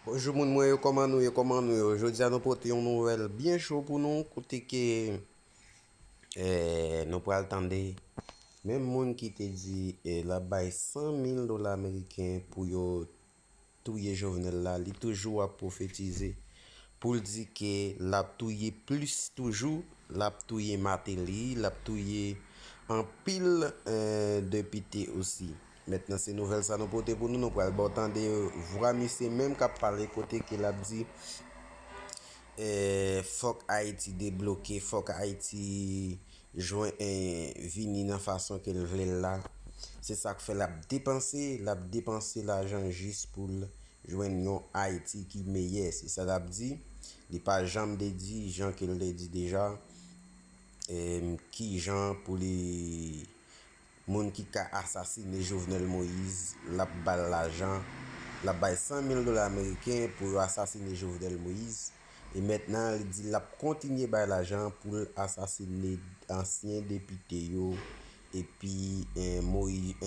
Bonjou moun mwen yo kòman nou ye kòman nou yo jodia nou pote yon nouvèl byen cho pou nou kote ke nou pral tande menm moun ki te di lap bay 100 mil dola ameriken pou yo touye jovenel la li toujou ap profetize pou l di ke lap touye plis toujou lap touye mateli lap touye anpil depite osi. Mentnan se nouvèl sa nou pote pou nou, nou pral baw tande vwa misye menm kap pale kote ke lap di fòk Ayiti debloke, fòk Ayiti jwen vini nan fason kel vlel la, se sak fè lap depanse, lap depanse lajan jis poul jwenn yon Ayiti ki meyè, se sa lap di, li pa janm de di jan kel te di deja kijan pou li Moun ki ka asasine Jovenel Moïse lap bal lajan lap bay 100 mil dola ameriken pou yo asasine Jovenel Moïse e mentnan li di lap kontinye bay lajan poul asasine ansyen depite yo epi Moïse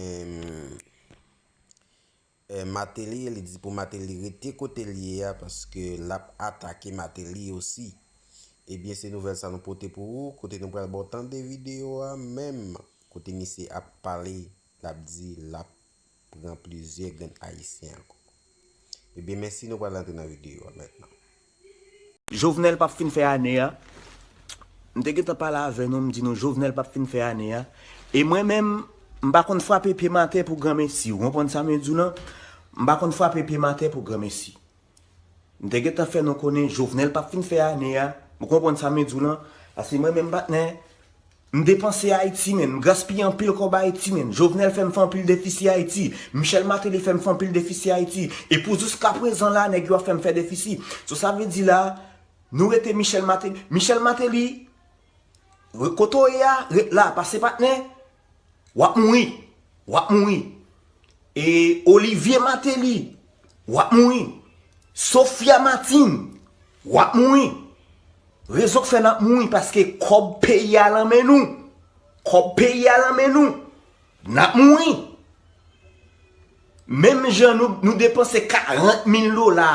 Mateli li di pou mateli rete kotel ye a paske lap atake mateli osi ebyen se nouvèl sa nou pote pou ou kote nou pral baw tande video a menm kote misye ap pale lap di lap pran plizyè grenn ayisyen ankò ebyen mèsi nou pral antre nan video a mètnan. Jovenel pap fin fè ane a, m te gentan pale avè nou m di nou Jovenel pap fin fè ane a, e mwen menm m pa konn frape pye m atè pou granmesi, ou konprann sa m di w lan, m pa konn frape pye m atè pou granmesi. M te gentan fè nou konnen Jovenel pap fin fè ane a, ou konprann sa m di w lan, paske mwen menm patnè, M depanse Ayiti menn, m gaspiye anpil kòb Ayiti menn, Jovenel fè m fè anpil defisi Ayiti, Michel Martelly fè m fè anpil defisi Ayiti, e pou jouska prezan la nèg yo ap fè m fè defisi. So sa vle di la, nou rete Michel Martelly, Michel Martelly, kote w ye a, ret la, pase patnè, w ap mouri, w ap mouri. E Olivier Martelly. wap mouri. Sophia Martin, wap mouri. Rezon k fè nap mouri paske kòb peyi a lan men nou. Kòb peyi a lan men nou. Nap mouri. Menm jan nou depanse 40 mil dola,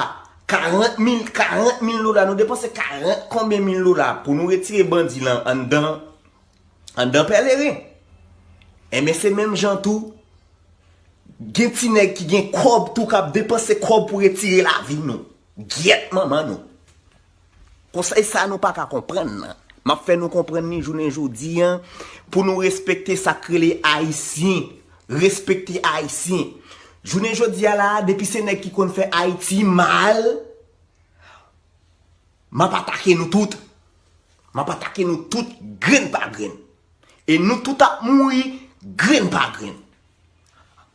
40 mil, 40 mil dola, nou depanse 40 konbyen mil dola pou nou retire bandi lan anndan. anndan pèleren. Enben se menm jan tou, gen ti nèg ki gen kòb tou k ap depanse kòb pou retire lavi nou. Gyèt manman nou! Konsèy sa nou pa ka konprann nan. M ap fè nou konprann ni jounen jodi an, pou nou respekte sa k rele Ayisyen. Respekte Ayisyen. Jounen jodi a la a, depi se nèg ki konn fè Ayiti mal. M ap atake nou tout. M ap atake nou tout grenn pa grenn. E nou tout ap mouri grenn pa grenn.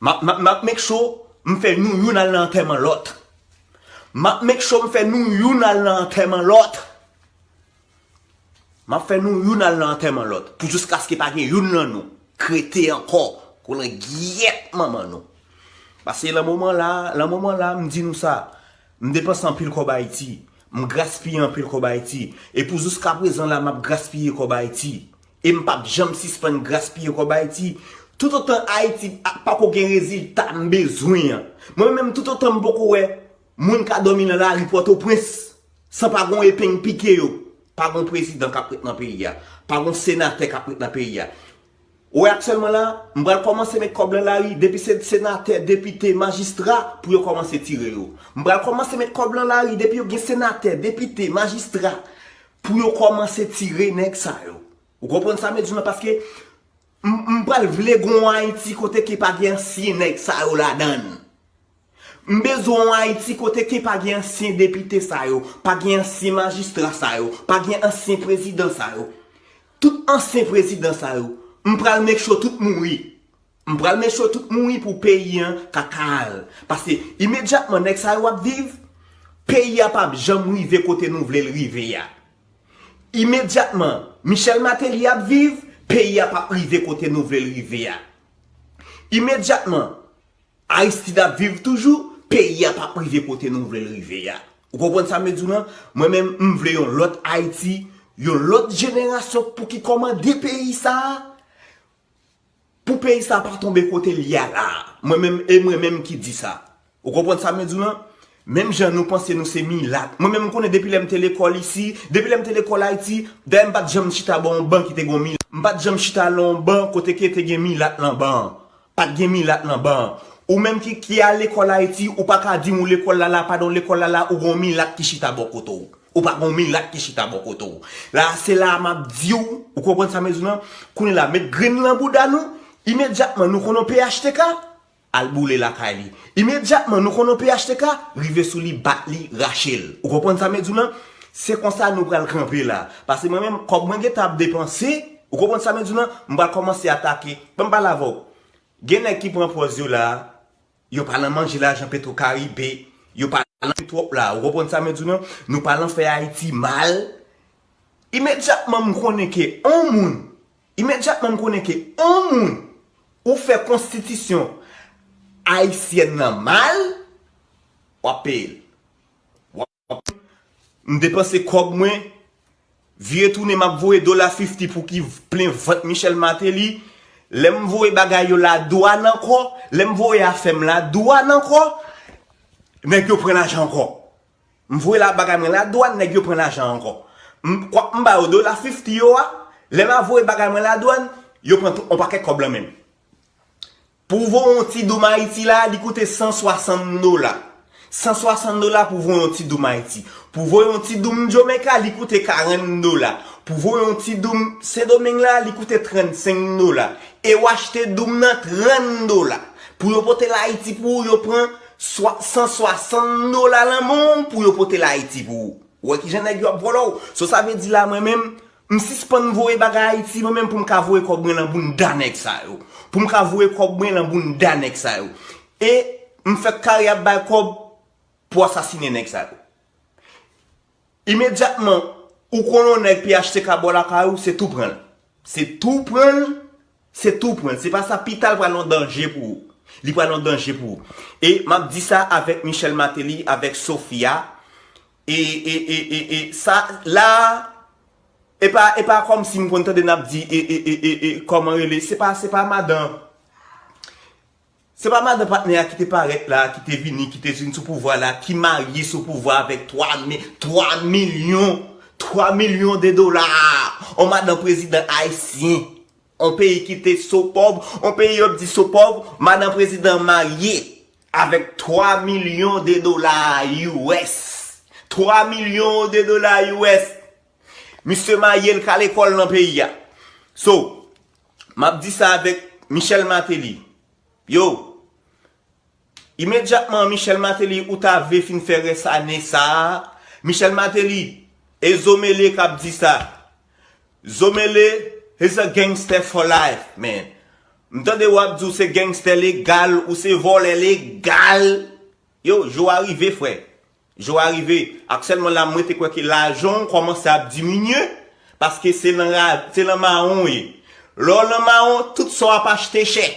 M ap make sure m fè nou youn al nan antèman lòt. M ap make sure m fè nou youn al nan antèman lòt. M ap fè nou youn al nan antèman lòt. Pou jiskaske pa gen youn nan nou k rete ankò pou langyèt manman nou. Pase lan moman la, lan moman la m di nou sa. M depanse anpil kòb Ayiti. M graspiye anpil kòb Ayiti. E pou jouskaprezan la m ap graspiye kòb Ayiti. E m pap janm sispann graspiye kòb Ayiti. Toutotan Ayiti pako gen rezilta m bezwen an. Mwen menm toutotan m poko wè moun ka dòmi nan lari Pòtoprens san pa gon epeng pike yo. Pa gon prezidan k ap ret nan peyi a. Pa gon senatè k ap ret nan peyi a. Ou wè aktyèlman la, m pral kòmanse met kòb lan lari, depi se senatè, depite, majistra, pou yo kòmanse tire yo. M pral kòmanse met kòb lan lari, depi yo gen senatè, depite, majistra, pou yo kòmanse tire nèg sa yo. Ou konprann sa mwen di w lan paske m pral vle gen yon Ayiti kote ke pa gen ansyen nèg sa yo ladan l. M bezwen yon Ayiti kote ke pa gen ansyen depite sa yo, pa gen ansyen majistra sa yo, pa gen ansyen prezidan sa yo. Tout ansyen prezidan sa yo, m pral make sure tout mouri. M pral make sure tout mouri pou peyi an ka kal. Paske imedyatman nèg sa yo ap viv, peyi a pap janm rive kote nou vle l rive a. Imedyatman Michel Martelly ap viv, peyi a pap rive kote nou vle l rive a. Imedyatman. Aristide ap viv toujou, peyi a pap rive kote nou vle l rive a. Ou konprann sa m vle di w lan? Mwen menm, m vle yon lòt Ayiti, yon lòt jenerasyon pou ki kòmande peyi sa a, pou peyi sa a pa tonbe kote l ye a la a. Mwen menm, e mwen menm ki di sa. Ou konprann sa m vle di w lan? Menm jan nou panse nou se milat. Mwen menm m konnen depi lè m te lekòl isi, depi lè m te lekòl Ayiti, dayè m pa t janm chita bò yon ban ki te gen yon milat. M pa t janm chita lan yon ban kote ke te gen milat lan ban an. Pat gen milat nan ban an. Ou menm ki ki al lekòl ayiti ou pa ka dim ou lekòl la la padon lekòl la la ou gon milat ki chita bò kote w ou pa gon milat ki chita bò kote w la a se la a map di w ou konprann sa m di w nan kounye la met grenn lan bouda nou imedyatman nou konn yon phtk al boule lakay li imedyatman nou konn yon phtk rive sou li bat li rache l ou konprann sa m di w nan se konsa nou pral kanpe la pase mwen menm kòb mwen gentan ap depanse Ou konprann sa mwen di w lan? M pral kòmanse atake. Ban m pale avè w. Gen nèg ki pran pòz yo la a, yo pa nan manje lajan Petro Caribe, yo pa nan fè twòp la a. Ou konprann sa mwen di w lan? Nou pa nan fè Ayiti mal. Imedyatman m konnen ke on moun, imedyatman m konnen ke on moun ou fè konstitisyon ayisyèn lan mal, w ap peye l. M depanse kòb mwen, vire tounen map voye dola fifty pou ki plen vant Michel Martelly, lè m voye bagay yo la dwàn ankò, lè m voye afè m la dwàn ankò, nèg yo pran lajan ankò. M voye la bagay mwen la dwàn, nèg yo pran lajan ankò. M kwak m ba yo dola fifty yo a, lè ma voye bagay mwen la dwàn, yo pran tout on pakèt kòb lan men m. Pou vo yon ti doum Ayiti la, li koute 160 dola. 160 dola pou vo yon ti doum Ayiti. Pou vo yon ti doum Jomenka, li koute 40 dola. Pou vo yon ti doum Sendomeng la, li koute 35 dola. E ou achte doum nan 30 dola. Pou yo pote l Ayiti pou ou, yo pran 160 dola lanmou pou yo pote l Ayiti pou ou. Ou wè kijan nèg yo ap vòlò ou. So sa vle di la mwen menm, M sispann voye bagay ayiti mwen menm poum ka voye kòb mwen lan bounda nèg sa yo. Poum ka voye kòb mwen lan bounda nèg sa yo. E m fèk kare ap bay kòb pou asasine nèg sa yo. Imedyatman ou konn yon nèg phtk bò lakay ou se tou pranl. Se tou pranl, se tou pranl. Se pa sa pita l pral yon danje pou ou. Li pral yon danje pou ou. E map di sa avèk Michel Martelly, avèk Sofia, E e e e e sa la a e pa e pa kòm si m konn tande n ap di e e e e e kòman rele se pa se pa madan se pa madan patnè a ki te parèt la a ki te vini ki te vin sou pouvwa la ki marye sou pouvwa avèk 3 mi 3 milyon 3 milyon de dola a on madan prezidan ayisyen. On peyi kite so pòv, on peyi yo di so pòv, madan prezidan marye avèk 3 milyon de dola US. 3 milyon de dola US! Misye marye l ka lekòl nan peyi a. So, m ap di sa avèk Michel Martelly, yo! Imedyatman Michel Martelly ou ta vle fin fè rès ane sa a Michel Martelly e zo mele kap di sa zo mele is a gangster for life man m tande wap di w se gangster legal ou se vòlè legal yow jou a rive frè. Jou a rive, aktyèlman la mwen te kwè ke lajan w kòmanse ap diminye, paske se nan ra, se nan mawon w ye. Lè w nan mawon, tout sa w ap achte chè.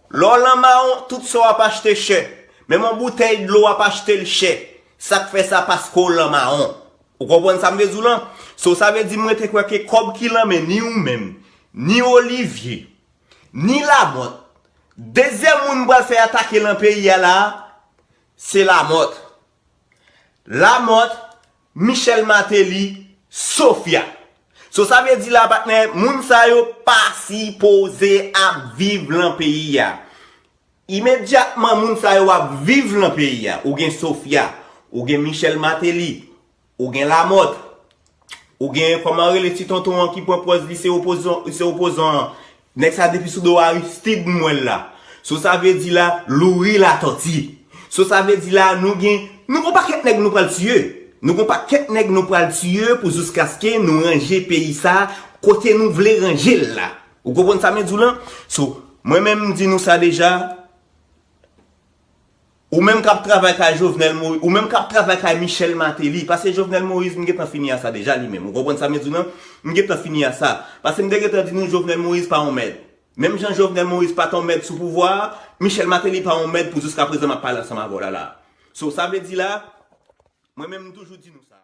Lè w nan mawon, tout sa w ap achte chè. Menm yon boutèy dlo w ap achte l chè. Sa k fè sa, paske w nan mawon. Ou konprann sa m vle di w lan? So, sa vle di mwen te kwè ke kòb ki lan men ni ou menm, ni Olivier, ni Lamothe, dezyèm moun m pral fè atake lan peyi a la a, Se Lamothe. Lamothe, Michel Martelly, Sophia. So sa vle di la patnè, moun sa yo pa sipoze ap viv lan peyi a. Imedyatman moun sa yo ap viv lan peyi a. Ou gen Sophia, ou gen Michel Martelly, Ou gen Lamothe. Ou gen kòman rele ti tonton an ki pran pòz li se opozan an. Nèg sa depi sou do Aristide m wè l la. So sa vle di la Loury Latòti. So sa vle di la nou gen nou gon pakèt nèg nou pral tiye. Nou gon pakèt nèg nou pral tiye pou jouskaske nou ranje peyi sa kote nou vle ranje l la. Ou konprann sa mwen di w lan? So mwen menm m di nou sa deja. Ou menm kap travay kay Jovenel Moïse, ou menm kap travay kay Michel Martelly, pase Jovenel Moïse m gentan fini a sa deja li menm, ou konprann sa m di w nan, m gentan fini a sa, pase m te gentan di nou Jovenel Moïse pa yon mèd. Menm jan Jovenel Moïse pat yon mèd sou pouvwa a, Michel Martelly pa yon mèd pou jiskaprezan map pale ansanm avè w la la a. So sa vle di la, mwen menm m toujou di nou sa.